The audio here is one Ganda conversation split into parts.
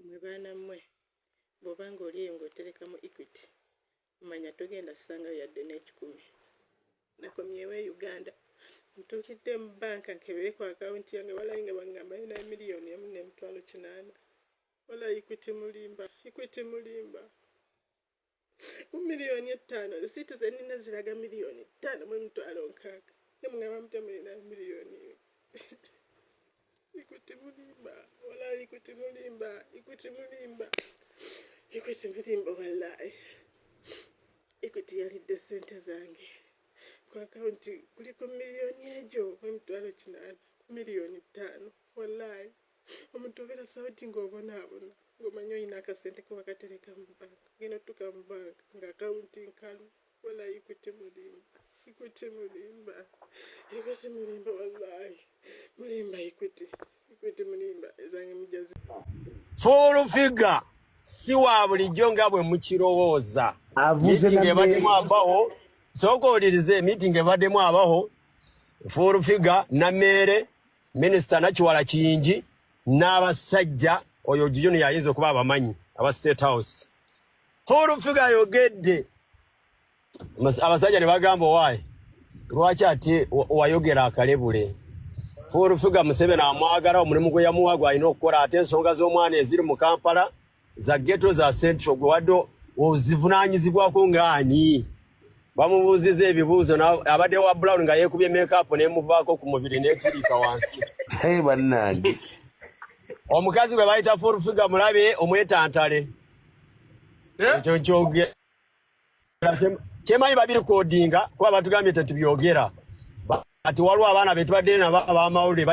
mwe baana mmwe bw'oba ng'oli eyo ng'otereka mu equity manya togenda kusangayo yadde n'ekikumi nakomyewo e uganda ntuukidde mu banka nkebere ku akawunti yange walayi nga bangambayo naye miliyoni emu n'emitwalo kinaana walayi equity mulimba equity mulimba mu miliyoni ettaano zisiiti zenina ziraga miliyoni ttaano mu emitwalo nkaaga ne mugamba mutya mulina miliyoni ikuti mulimba wala ikuti mulimba ikuti mulimba ikuti mulimba wallahi ikuti yalidde sente zange ku akawunti kuli ku miliyoni egyo mu emitwalo kinaana ku miliyoni ttaano wallahi omuntu obeera sauti ng'obonaabona ng'omanya olina akasente ke wakatereka mu banka genda otutuka mu banka nga akawunti nkalu wala ikuti mulimba ikuti mulimba ikuti mulimba wallahi mulimba ikuti ikuti mulimba ezange mujazi fuulu figa si wa bulijjo nga bwe mukirowooza avuzeebademu abaho sooka owulirize emiitingi ebademu abaho fuulu figa nameere Minister Nakiwala Kiyingi n'abasajja oyo Junior yayinza okuba abamanyi aba State House. Full figure ayogedde abasajja ne bagamba owaaye lwaki ati wayogera akalebule full figure Museveni amwagala omulimu gwe yamuwa gwalina okukola ate ensonga z'omwana eziri mu Kampala za geto za central gwe wadde ozivunanyizibwako ngaani bamubuuziza ebibuuzo abadde wa brown nga yeekubye mekaapu nemuvaako ku mubiri netiriika wansi bannange omukazi gwe bayita full figa mulabe omwetantale eh? ekyo nkyogera kyemanyi babirikodinga kuba batugambye tetubyogera kati waliwo abaana betubadde nabo abamawulire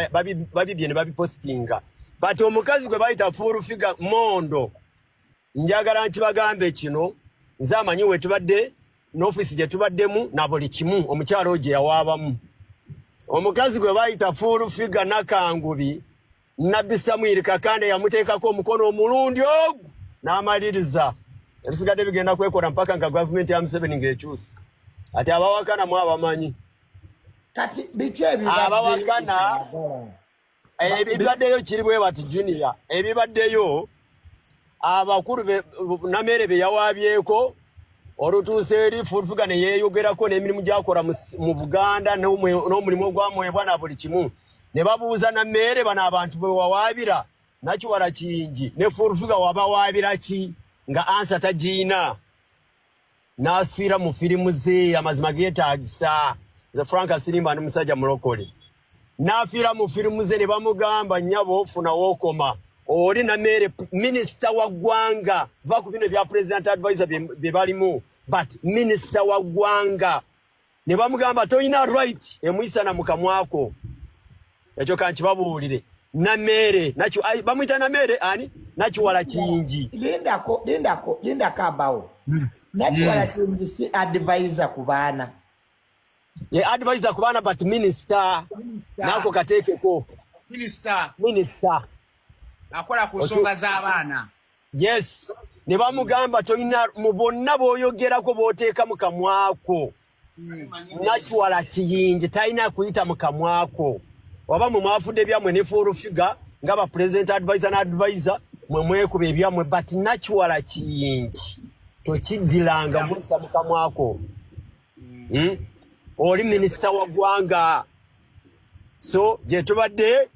babibye ne babipositinga but omukazi gwe bayita full figure mondo njagala nkibagambe kino nze amanyi wetubadde n'ofiisi gye tubaddemu na buli kimu omukyalo gye yawaabamu omukazi gwe bayita full figure nakangubi Nabbi Samwiri Kakande yamuteekako omukono omulundi ogu n'amaliriza ebisigadde bigenda kwekola mpaka nga gavumenti ya Museveni ng'ekyusa ati abawakana mu abamanyi kati biki abawakana ebibaddeyo kiri bwe bati junior ebibaddeyo abakulu namere be yawabyeko olutuuse eri fulfuga ne yeeyogerako n'emirimu gyakola mu buganda n'omulimu ogwamwebwa na buli kimu ne babuuza namere bano abantu bwe wawaabira nakiwala kingi ne fulfuga wabawaabira ki nga ansa tagiina n'afiira mu firimu ze amazima geetaagisa nze frank asirimba ndi musajja mulokole n'afiira mu firimu ze ne bamugamba nnyabo ofunawo okoma oli na meere minisita wa ggwanga va ku bino ebya president advisor bye balimu but minisita wa ggwanga ne bamugamba toyina right emuyisana mu kamwako ekyo kankibabuulire nameere nakyo bamuyita nameere ani nakiwala kingi lindako lindako lindako abawo hmm. nakiwala hmm. kingi si advisor ku baana ye advisor ku baana but minister nako kateekeko minister minister akola ku nsonga z'abaana yes ne bamugamba tolina mu bonna b'oyogerako b'oteeka mu kamwako hmm. nakiwala kiyingi talina kuyita mu kamwako waba mwe mwafudde byammwe ne full figure nga ba president advisor na advisor mwe mwekuba ebyammwe but nakiwala kiyingi tokiddilanga muyisa mu kamwako hmm. hmm? oli minisita wa ggwanga so gyetubadde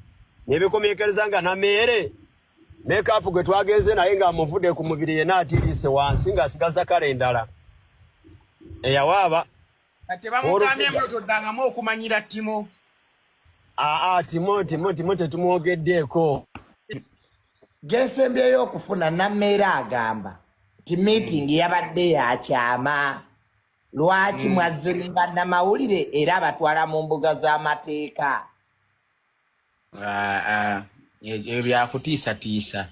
nebekomekereza nga nameere mekapu gwe twagenze naye nga amuvude ku mubiri yena atirise wansi nga asigaza kale endala eyawaaba tebamugambyemulotoddangamu okumanyira timo aa timo timo timo tetumwogeddeeko gesembyeyo okufuna nameera agamba ti meeting yabadde yakyama lwaki mm. mwazze ne bannamawulire era abatwala mu mbuga z'amateeka Ah, ah, ebyo byakutiisatiisa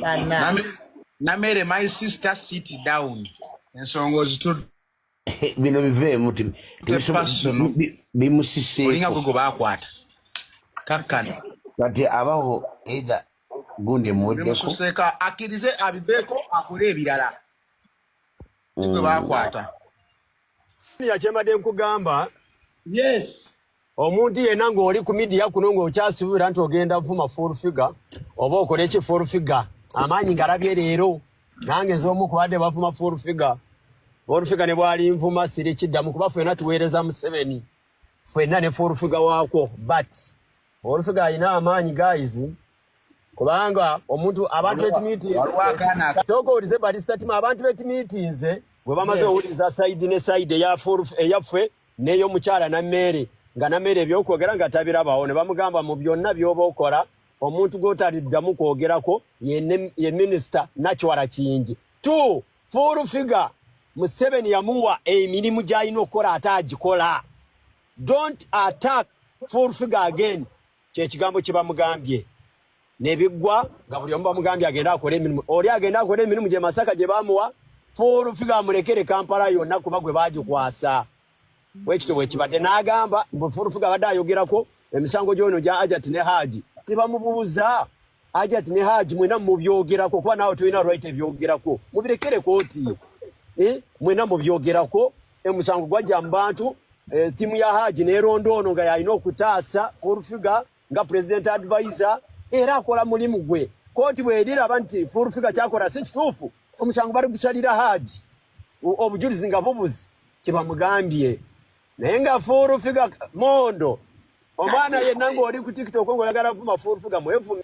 Bana. Name- namere my sister sit down ensonga ozitudde bino biveemu ti- tebisobo- personal. bi- olinga bimusiseeko gwe gwe baakwata kakkano kati abaho either gundi emuweddeko bimususeeko akkirize abiveeko akole ebirala si gwe baakwata Senior kyembadde nkugamba. Yes. Omuntu yena ng'oli ku media kuno ng'okyasibira nti ogenda vuma full figure oba okole ki full figure amaanyi ngalabye leero nange z'omu kubadde bavuma full figure full figure ne bwali nvuma siri kiddamu kuba fena tuweereza Museveni fena ne full figure waakwo but full figure alina amaanyi guys kubanga omuntu abantu betimiitinzesooka owulize balisitatima abantu betimiitinze bwe bamaze owuliza saidi ne saidi eyaffe neyo mukyala na meere nga na meere ebyokwogera nga tabirabawo ne bamugamba mu byonna byoba okola omuntu gwotaliddamu kwogerako ye minisita nakiwala kingi t full figa museveni yamuwa emirimu gyalina okukola ate agikola don't attack full figa again kyekigambo kyebamugambye nebiggwa nga buli omu bamugambye agenda akole emirimu oli agenda akole emirimu gye masaka gye bamuwa fuulufiga amulekere kampala yonna kuba gwe bagikwasa bwekityo bwekibadde n'agamba mbu fuulufiga abadde ayogerako emisango gyono gya ajati ne haaji tebamubuuza ajati ne haaji mwena mubyogerako kuba naawe tolina right ebyogerako mubirekere kooti eh? mwena mubyogerako Emusango gwajja mu bantu eh, tiimu ya Haji neeronda ono nga yalina okutaasa full figure nga president advisor era akola mulimu gwe kooti bweriraba nti full figure kyakola si kituufu omusango bali gusalira Haji obujulizi nga bubuzi kyebamugambye naye nga full figure mondo omwana yenna ng'oli ku tiktok ng'oyagala vuma full figure mwevume